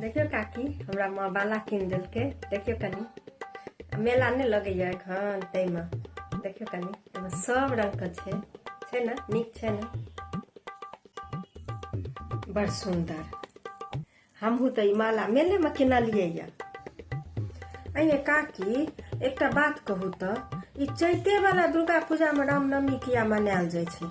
देखियो काकी हमरा माँ बाला कीन देलकै देखियो कनी मेला नहि लगैया एखन ताहिमे देखियो कनी एहिमे सब रंगके छै छै ने नीक छै ने बड़ सुन्दर हमहूँ तऽ ई माला मेलेमे किनलियै यए अये काकी एकटा बात कहू तऽ ई चैतेवला दुर्गा पूजामे रामनवमी किया मनायल जाइ छै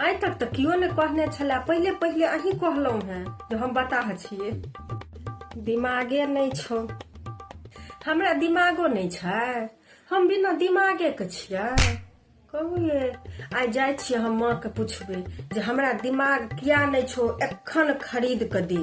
आइ तक तऽ केओ ने कहने छलए पहिले पहिले अहीं कहलहुँ हेँ जे हम बताह छियै दिमागे नहि छौ हमरा दिमागो नहि छै हम बिना दिमागेके छियै कहू ये आइ जाइ छियै हम माँके पुछबै जे हमरा दिमाग किया नहि छौ एखन खरीद कऽ दे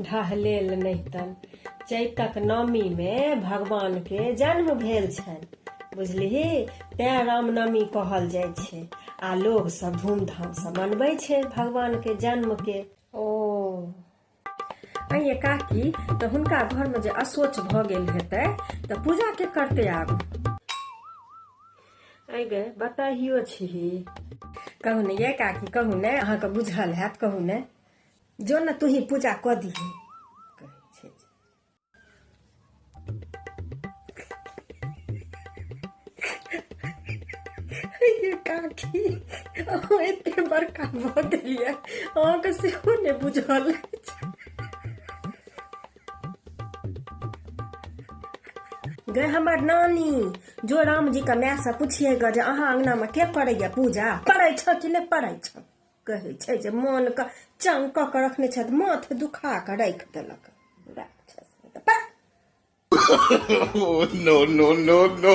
ढहलेल नहि तन चैतक नवमीमे भगवानके जन्म भेल छनि बुझलिही तैँ रामनवमी कहल जाइ छै आ लोग सब धूमधाम से मनबै छै भगवान के जन्म के ओ अये काकी तऽ हुनका घर में जे असोच भ गेल हेतै तऽ पूजा के करते आब अय गे बताहियो छी कहू ने ये काकी कहू ने अहाँके बुझल हैत कहू ने जो ने तूही पूजा कऽ दिही काकी एते बड़का भऽ गेलिए अहाँके सेहो नहि बुझल गे हमर नानी जो रामजी के मायसँ पूछिए गे जे अहाँ अंगना में के करैए पूजा पढ़ै छ कि नहि पढ़ै छ कहै छै जे मोनके चंग कऽ कऽ रखने छथि माथ दुखा कऽ राखि देलक नो नो नो नो